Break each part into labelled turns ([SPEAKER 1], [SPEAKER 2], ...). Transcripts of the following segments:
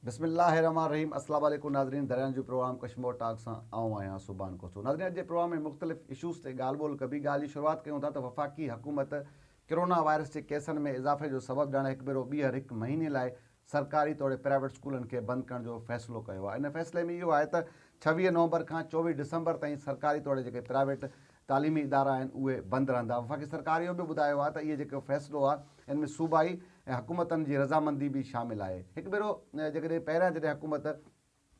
[SPEAKER 1] بسم الله الرحمٰن الرحيم السلام عليڪم ناظرين دريان جون پروگرام ڪشمور ٽاڪ سان آئون آهيان سوڀان کوسو ناظرين اڄ جي پروگرام ۾ مختلف اشوز تي ڳالهه ٻولهه ڪبي ڳالهه جي شروعات ڪيون ٿا ته وفاقي حڪومت ڪرونا وائرس جي ڪيسن ۾ اضافي جو سبب ڄاڻي هڪ ڀيرو ٻيهر هڪ مهيني لاء سرڪاري توڙي پرائيويٽ اسڪولن کي بند ڪرڻ جو فيصلو ڪيو آهي ان فيصلي ۾ اهو آهي ته ڇويهه نومبر کان چوويهه ڊسمبر تائين سرڪاري توڙي جيڪي پرائيويٽ تعليمي ادارا آهن اهي بند رهندا وفاقي سرڪار اهو به ٻڌايو آهي ته اهي جيڪو فيصلو آهي ان ۾ صوبائي ۽ حڪومتن جي رضامندي به شامل آهي هڪ ڀيرو جيڪڏهن پهريان جڏهن حڪومت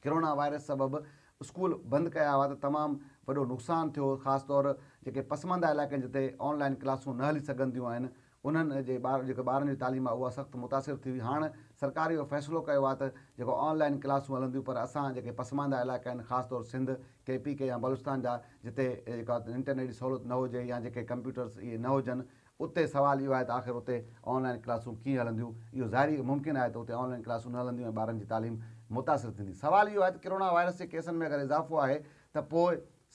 [SPEAKER 1] ڪرونا وائرس سبب اسڪول بند ڪيا هئا ته تمام وڏو نقصان ٿيو خاص طور جيڪي پسمانده علائقن جتي آن لائن ڪلاسون نه هلي سگهنديون آهن انهن جي ٻار جيڪي ٻارن جي تعليم آ اها سخت متاثر ٿي هئي هاڻ سرڪار اهو فيصلو ڪيو آ ته جيڪو آن لائين ڪلاسون هلنديون پر اسان جيڪي پسمانده علائقا آهن خاص طور سنڌ ڪي پي ڪي يا بلوچستان جا جتي جيڪا انٽرنيٽ جي سهولت نه هجي يا جيڪي ڪمپيوٽرس اهي نه هجن اتي سوال اهو آهي ته آخر اتي آن لائين ڪلاسون ڪيئن هلنديون اهو ظاهري ممڪن آهي ته اتي آن لائين ڪلاسون نه هلنديون ۽ ٻارن جي تعليم متاثر ٿيندي سوال اهو آهي ته ڪرونا وائرس جي ڪيسن ۾ اگر اضافو آهي ته پوء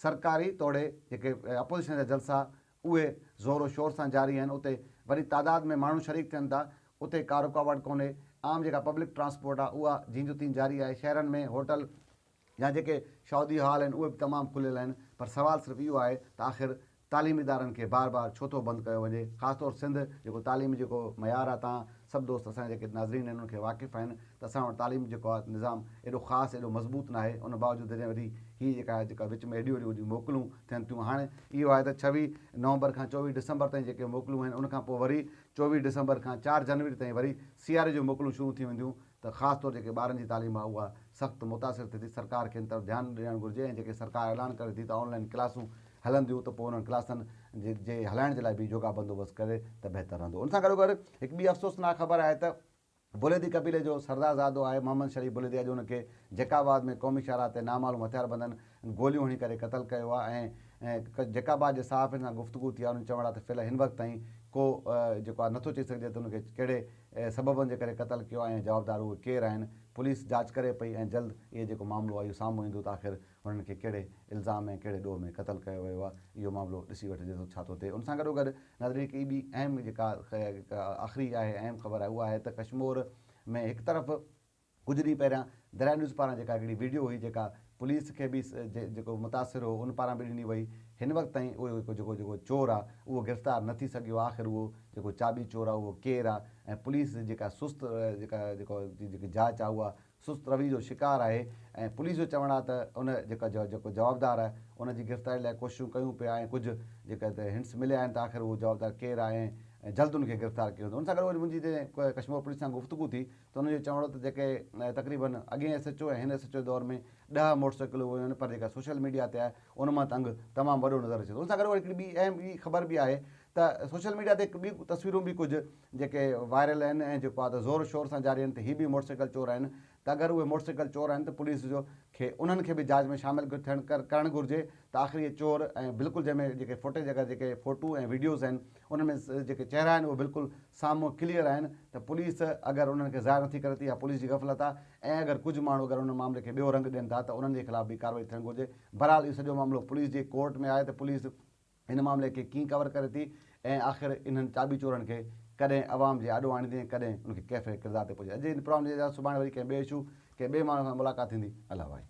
[SPEAKER 1] سرڪاري توڙي جيڪي اپوزيشن جا جلسا اهي زور و شور سان جاري آهن اتي وڏي تعداد ۾ ماڻهو شريڪ ٿين ٿا اتي ڪا رڪاوٽ ڪونهي عام جيڪا پبلڪ ٽرانسپورٽ آهي اها جين جو تين جاري آهي شهرن ۾ هوٽل يا جيڪي شادي هال آهن اهي به تمام کليل آهن پر سوال صرف اهو آهي ته آخر تعليمي ادارن کي بار بار ڇو ٿو بند ڪيو وڃي خاص طور سنڌ جيڪو تعليمي جيڪو معيار آهي تان سڀ دوست اسان جا جيڪي ناظرين آهن انهن کي واقف آهن ته اسان وٽ تعليم جيڪو آهي نظام ايڏو خاص ايڏو مضبوط ناهي ان باوجود جڏهن وڏي هي جيڪا جيڪا وچ ۾ ايڏيون وڏيون وڏيون موڪلون ٿين ٿيون. هاڻي اهو آهي ته ڇويهه نومبر کان چوويهه ڊسمبر تائين جيڪي موڪلون آهن، ان کان پوء وري چوويهه ڊسمبر کان چار جنوري تائين وري سياري جون موڪلون شروع ٿي وينديون ته خاص طور جيڪي ٻارن جي تعليم آهي اها سخت متاثر ٿئي ٿي، سرڪار کي ان طرف ڌيان ڏيڻ گهرجي ۽ جيڪي سرڪار اعلان ڪري ٿي ته آن لائين ڪلاسون هلنديون ته پوء انهن ڪلاسن جي هلائڻ جي لاء به جوڳا بندوبست ڪري ته بهتر رهندو. ان سان گڏوگڏ هڪ ٻي افسوسناڪ خبر آهي ته. بليدي قبيلي جو سردارزادو آهي محمد شريف بليدي اڄ ان کي جيڪاباد ۾ قومي شاهراهه تي نامعلوم هٿياربندن گوليون هڻي ڪري قتل ڪيو آهي ۽ جيڪاباد جي صحافين سان گفتگو ٿي آهي انهن چوڻ آهي ته فعلا هن وقت تائين ڪو جيڪو آهي نٿو چئي سگهجي ته ان کي ڪهڙي سببن جي ڪري قتل ڪيو آهي ۽ جوابدار اهي ڪير آهن پوليس جاچ ڪري پئي ۽ جلد اهي جيڪو معاملو آهي اهو سامهون ايندو ته آخر هنن کي ڪهڙي الزام ۽ ڪهڙي ڏوهه ۾ قتل ڪيو ويو آهي، اهو معاملو ڏسي وٺجي ٿو ڇا ٿو ٿئي. ان سان گڏوگڏ ناظرين هڪ ٻي اهم جيڪا آخري آهي اهم خبر آهي اها آهي ته ڪشمور ۾ هڪ طرف ڪجهه ڏينهن پهريان دريا نيوز پاران جيڪا هڪڙي ويڊيو هئي جيڪا پوليس کي به جيڪو متاثر هو ان پاران به ڏني وئي هن وقت تائين اهو هڪ جيڪو جيڪو چور آهي اهو گرفتار نه ٿي سگهيو آهي آخر اهو جيڪو چاٻي چور آهي اهو ڪير آهي ۽ پوليس جيڪا سست جيڪا جيڪو جيڪي جاچ آهي اها سست رويي جو شڪار آهي ۽ پوليس جو چوڻ آهي ته ان جيڪا جيڪو جوابدار آهي ان جي گرفتاري لاء ڪوششون ڪيون پيا ۽ ڪجهه جيڪا هنٽس مليا آهن ته آخر اهو جوابدار ڪير آهي ۽ جلد ان کي گرفتار ڪيو ويندو ان سان گڏوگڏ منهنجي جڏهن ڪشمور پوليس سان گفتگو ٿي ته انهن جو چوڻ هو ته جيڪي تقريبن اڳين ايس ايڇ او ۽ هن ايس ايڇ او دور ۾ ڏهه موٽر سائيڪلون ويون آهن پر جيڪا سوشل ميڊيا تي آهي ان مان ته انگ تمام وڏو نظر اچي ٿو ان سان گڏوگڏ هڪڙي ٻي اهم ٻي خبر به آهي ته سوشل ميڊيا تي هڪ ٻي تصويرون به ڪجهه جيڪي وائرل آهن ۽ جيڪو آد زور شور سان جاري آهن ته هي به موٽرسائيڪل چور آهن ته اگر اهي موٽرسائيڪل چور آهن ته پوليس جو کي انهن کي به جاچ ۾ شامل ٿيڻ ڪرڻ گهرجي ته آخر اهي چور ۽ بلڪل جنهن ۾ جيڪي فوٽيج اگر جيڪي فوٽو ۽ وڊيوز آهن انهن ۾ جيڪي چهرا آهن اهي بلڪل سامهون ڪليئر آهن ته پوليس اگر انهن کي ظاهر نٿي ڪري ته اها پوليس جي غفلت آهي ۽ اگر ڪجهه ماڻهو اگر ان معاملي کي ٻيو رنگ ڏين ٿا ته انهن جي خلاف به ڪارروائي ٿيڻ گهرجي بهرحال اهو سڄو معاملو پوليس جي ڪورٽ ۾ آهي ته پوليس هن معاملي کي ڪين ڪور ڪري ٿي ۽ آخر انهن چاٻي چورن کي ڪڏهن عوام جي آڏو آڻيندي ۽ ڪڏهن ان کي ڪيفر ڪردار تي پهچائيندي. اڄ هن پروگرام جي اجازت سڀاڻي وري ڪنهن ٻئي اشو ڪنهن ٻئي ماڻهو سان ملاقات ٿيندي الله وائي.